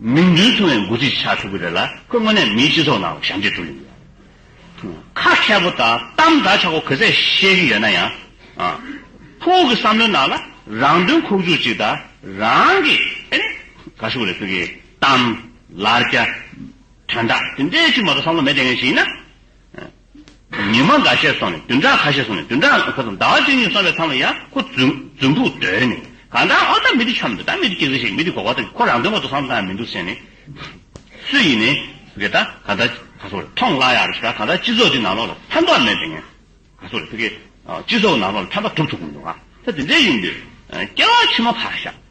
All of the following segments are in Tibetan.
མིང་དོན་མཚུངས་བའི་འགོ་ཁྲིད་ཆགས་ཐུབ་ཀྱི་རེད་ལ་ཁོས་དངོས་གནས་མིའི་སྤྱི་ཚོགས་ནང་ཞབས་འདེགས་སྒྲུབ་ཡོང་གི་རེད། ཁ་མཁས་པོ་དང་གཏམ་འདྲ་ཆགས་པོ་གོ་ཚད་ཤེས་ཀྱི་ཡོད་ན་ཡང། ཁོ་གི་བསམ་བློའི་ནང་ལ་རང་དོན་ཁོག་འཇུག་ཅིག་དང་རང་གི་ཨེ་རེད། ག་ཤོག་ལས་ཁོས་ཀྱི་གཏམ། ལར་རྒྱ། དོན་དག་དེ་འདྲའི་ཅིག་མ་གཏོགས་བསམ་བློ་མེད་བསྡད་མཁན་ཞིག་ཡིན་ན། ཉི་མ་འགའ་ཤས་སོང་ནས་བདུན་ཕྲག་ཁ་ཤས་སོང་ནས་བདུན་ཕྲག་ཁོ་ཚོ་ཟླ་བ་བཅུ་གཉིས་སོང་བའི་མཚམས་ལ་ཡང་ཁོ་རྫུན་ཕུག་བརྡོལ་ནས་གང་ལྟར་ཨོ་ད་མི་འདི་འཁྱམས་འདུག་ད་མི་འདི་སྐྱིད་ཟིག་བྱེད་མི་འདི་གོ་བ་ཐོན་ཁོ་རང་དོན་ངོ་ཚོ་བསམ་གཏན་ན་མི་འདུག་ཟེར་ནས། སུ་ཡིན་ནའི། རེད་ད་གང་ལྟར་ག་ཚོད་རེད་ཐོངས་སླ་ཡག་རེད་ཟེར་ད་གང་ལྟར་སྤྱི་ཚོགས་འདི་ནང་ལོགས་ལ་ཕན་ཐོག་མེད་པའི་ངན་ག་ཚོད་རེད་ཕི་གེ། སྤྱི་ཚོགས་ནང་ལོགས་ལ་ཕན་པ་གྲུབ་ཐུབ་གི་མི་འདུག་ང་ཚོ་འདི་འདྲའི་ཡིན་དུས་སྐྱེ་བ་ཕྱི་མ་ཕར་བཞག་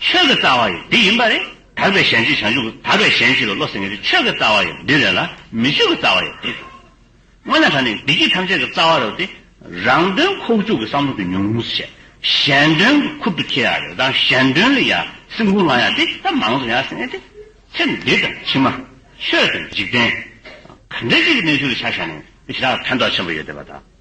ཆོས་ཀྱི་རྩ་བ་ཡི་འདི་ཡིན་པ་རེད། དག་པའི་གཞན་གཅེས་བྱང་ཆུབ་ཀྱི་དག་པའི་གཞན་གཅེས་ལ་བློ་སེང་གེ་རེད་ཆོས་ཀྱི་རྩ་བ་ཡི་འདི་རེད་ལ་མི་ཆོས་ཀྱི་རྩ་བ་ཡི་འདི་རེད། སྔོན་ལ་ད་ནི་བདེ་སྐྱིད་ཐམས་ཅད་ཀྱི་རྩ་བ་རེད་དེ། རང་དོན་ཁོག་བཅུག་གི་བསམ་བློ་དེ་ཉུང་ངུ་བྱས། གཞན་དོན་གྱི་ཁུར་དུ་ཁྱེར་ཡག་རེད་དང་གཞན་དོན་ལ་ཡང་སེམས་ཁུར་བླང་ཡག་དེ་ད་མང་གཙོ་ཡག་སེང་གེ་དེ། ཚེ་འདི་དང་ཕྱི་མ། ཆོས་དང་འཇིག་རྟེན། ག་འདྲ་ཅིག་གི་གནས་ཚུལ་ལ་ཆ་བཞག་ནས་ཇི་ལྟར་ཕན་ཐོག་ཆེན་པོ་ཡོད་བསྡད་པ་དང།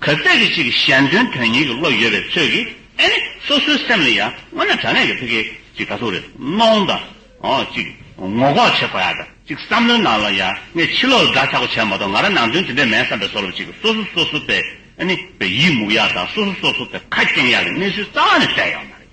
གལ་སྲིད་ཀྱི་ཅིག་གཞན་དོན་དོན་གཉེར་གྱི་བློ་ཡོད་པའི་ཚོད་ཀྱིས་ཨེ་ནི་སོ་སོའི་སེམས་ལ་ཡང་སྔོན་ལ་དྲ་གནས་ཀྱི་ཕི་གེ་ཅིག་ག་ཚོད་རེ་གནོངས་དང་ཅིག་ངོ་ལྐོག་བྱེད་དགོས་ཡ་དང་ཅིག་བསམ་བློའི་ནང་ལ་ཡང་ངས་ཕྱི་ལོག་ལ་དགྲ་ཆགས་པོ་བྱས་མ་གཏོགས་ང་རང་ནང་དོན་དེ་འདྲས་མེད་བསམ་པའི་སོགས་ལ་ཅིག་སོ་སོ་སོ་སོ་པའི་ཨེ་ནི་པའི་ཡིད་མུག་ཡ་དང་སོ་སོ་སོ་སོ་པའི་ཁ་སྐྱེངས་ཡ་གི་གནས་ཚུལ་རྩ་བ་ནས་བསྟན་ཡོད་མ་རེད།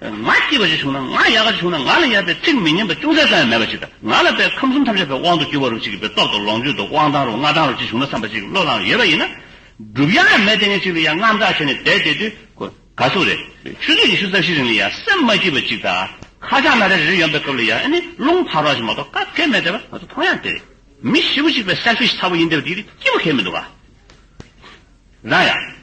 ང་སྐྱིད་པ་ཞིག་བྱུང་ན་ང་ཡག་ག་ཞིག་བྱུང་ན་ང་ལ་ཡག་པའི་ཚིག་མི་སྙན་པ་ཅུང་ཟད་ཙམ་ཡང་མེད་པ་ཞིག་དང་ང་ལ་པའི་ཁམས་གསུམ་ཐམས་ཅད་པའི་དབང་དུ་གྱུར་བ་རུ་ཅིག་གི་པའི་སྟོབས་དང་ལོངས་སྤྱོད་དང་དབང་ཐང་རུ་མངའ་ཐང་རུ་ཅིག་བྱུང་ན་བསམ་པ་ཅིག་བློས་བླངས་ཡོད་པ་ཡིན་ན། སྒྲུབ་ཡག་མེད་དེ་ངས་ཅིག་ལ་ཡང་རྔམ་སྐྲག་བྱས་ནས་བསྡད་བསྡད་དུས་ཁོ་དགའ་ཚོད་རེད། ཆུ་ཚོད་ཉི་ཤུ་རྩ་བཞི་རིང་ལ་ཡང་སེམས་མ་སྐྱིད་པ་ཅིག་དང་ཁ་བྱང་སྣ་རེ་རེ་ཡོང་པའི་སྐབས་ལ་ཡང་ཨེ་ནི་རླུང་འཕར་བ་ཞིག་མ་གཏོགས་སྐབས་དཀའི་མེད་བསྡད་པ་ང་ཚོ་མཐོང་ཡང་དེ་རེད། མི་ཞི་བོ་ཅིག་པའི selfish ཚ་བོ་ཡིན་བསྡད་པ་དེ་རིགས་སྐྱིད་པོ་ཁེལ་མི་འདུག་ག་རང་ཡང།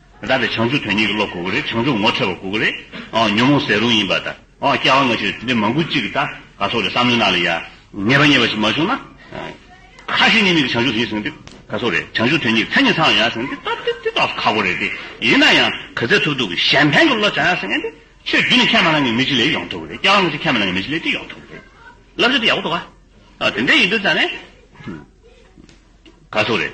བདག་གི་བྱང་ཆུབ་དོན་གཉིས་ཀྱི་བློ་གོ་གི་རེད་བྱང་ཆུབ་ངོ་འཕྲད་པ་གོ་གི་རེད་ཉོན་མོངས་ཟད་རུང་ཡིན་པ་དང་སྐྱེ་བ་སྔ་ཕྱིར་དེ་འདྲའི་མང་པོ་གཅིག་གི་ད་ག་སོགས་རེད་བསམ་བློའི་ནང་ལ་ཡང་ངེས་པ་རྙེད་པ་ཞིག་མ་བྱུང་ན། ཁ་ཞེ་གཉིས་མེད་ཀྱི་བྱང་ཆུབ་ཡིན་ཟེར་གི་དེ་ག་སོགས་རེད་བྱང་ཆུབ་དོན་གཉིས་མཚན་ཉིད་ཚང་ཡང་ཟེར་གི་དེ་དེ་དག་ཁག་པོ་རེད་དེ་ཡིན་ན་ཡང། ག་ཚད་ཐུབ་ཐུབ་ཀྱི་གཞན་ཕན་གྱི་བློ་བྱ་ཡང་ཟེར་གི་ཆོས་བརྒྱུད་ནི་ཁས་མ་བླངས་ཀྱི་མི་ཅི་ལས་ཡོང་ཐུབ་ཀྱི་རེད་སྐྱེ་བ་སྔ་ཕྱིར་ཁས་མ་བླངས་ཀྱི་མི་ཅི་ལས་ཅི་ཡོང་ཐུབ་ཀྱི་རེད་བསླབ་བྱ་དེ་ཡག་པོ་འདུག་ག་དེ་འདྲ་ཡིན་དུས་ད་ནས། ག་སོགས་རེད།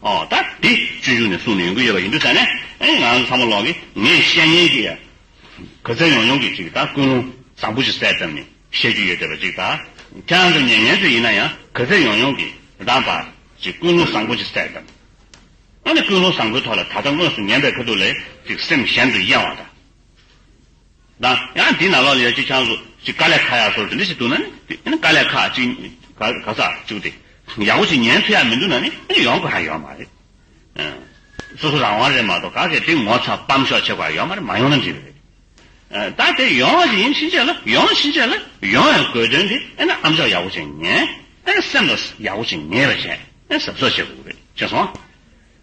ད་འདི་སྤྱོད་འཇུག་ནས་གསུངས་ནས་ཡོང་གི་ཡོད་པ་ཡིན་འདུག་ཟེར་ནས་ང་རང་ཚོ་ཚང་མ་ལོག་གིས་ངས་བཤད་ཉན་གྱི་ཡོད། གུས་བརྩེ་ཡོང་ཡོང་གིས་ཅིག་ད་ཀུན་སློང་བཟང་པོ་ཞིག་གསལ་ཙམ་ནས་བཤད་རྒྱུ་ཡོད་བསྡད་པ་ཅིག་ད་ཁྱེད་རང་ཚོ་ཉན་ཉན་ཚོད་ཡིན་ན་ཡང་གུས་བརྩེ་ཡོང་ཡོང་གིས་ད་འབའ་ཅིག་ཀུན་སློང་བཟང་པོ་ཞིག་གསལ་ཙམ། ཨ་ནི་ཀུན་སློང་བཟང་པོའི་ཐོག་ལ་ད་ལྟ་དངོས་སུ་ཉན་པའི་ཁ་ཐུག་ལས་ཅིག་སེམས་གཞན་དུ་གཡེང་བ་དང། དང། ཡང་དེའི་ནང་ལོགས་ལ་ཡོད་ཅིག་ཆང་བཟོ། ཅིག་ཀ་ལས་ཁ་ཡག་བཟོ་རེ་འདི་ཞིག་འདུག་ན་ནི། ཀ་ལས་ཁ་ཅིག་ག་ག་ཟག་བཅུག་སྟེ། ཡག་པོ་ཞིག་ཉན་ཐུབ་ཡག་མི་འདུག་ན་ནི་ཡོང་དགོས་ཧ་ཡོད་མ་རེད། སོ་སོ་རང་དབང་རེད་མ་གཏོགས་ག་གེ་དེ་ངོ་ཚ་སྤམ་ཤོག་བྱེད་དགོས་ཧ་ཡོད་མ་རེད་མ་ཡོང་ན་འགྲིག་རེད། ད་དེ་ཡོང་བ་ཞིག་ཡིན་ཕྱིན་ཆད་ལ་ཡོང་ཕྱིན་ཆད་ལ་ཡོང་བའི་དགོས་དོན་དེ་ཨེ་ན་ཨམ་ཤོག་ཡག་པོ་ཞིག་ཉན། ཨེ་ན་སེམས་ལ་ཡག་པོ་ཞིག་ཉེས་པ་བྱས། ཨེ་ན་ཟབ་ཟོབ་བྱེད་དགོས་རེད་བྱས་སོང།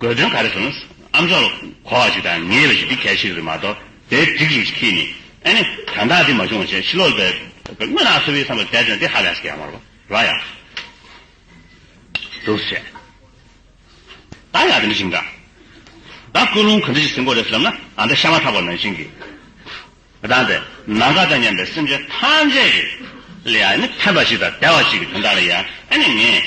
དགོས་དོན་ག་རེ་བཟོ་ན་ཨམ་ཅོག་གོ་བ་ཞིག་དང་ངེས་པ་ཞིག་འདི་གལ་ཆེ་གི་རེད་མ་གཏོགས་དེ་སྒྲིག་རིགས་ཤིག་ཁེལ་ནི་ཨེ་ནི་དོན་དག་འདི་མ་བྱུང་བ་བྱས་ཕྱི་ལོག་པའི་དངོས་ནང་ཚོ་བའི་བསམ་པ་བསྡད་ན་འདི་ཧ་ལས་སུ་ག་ཡང་མ་རོ་ཡ། འདུག་བྱས་ད་ཡག་དེ་འདྲ་ཞིག་འདྲ་ད་སྐུལ་སློང་ག་འདྲ་ཞིག་ཟིན་གོ་རེད་བསམ་ན་ད་ཤ་མ་ཐག་པ་ནང་བཞིན་གི་ད་འདི་ནང་ག་དང་སྙམ་པའི་སེམས་ཅན་ཐམས་ཅད་ཀྱི་ལ་ཡ་ཨེ་ནི་ཕན་པ་ཞིག་དང་བདེ་བ་ཞིག་གི་དོན་དག་ལ་ཡ་ཨེ་ནི་ངས།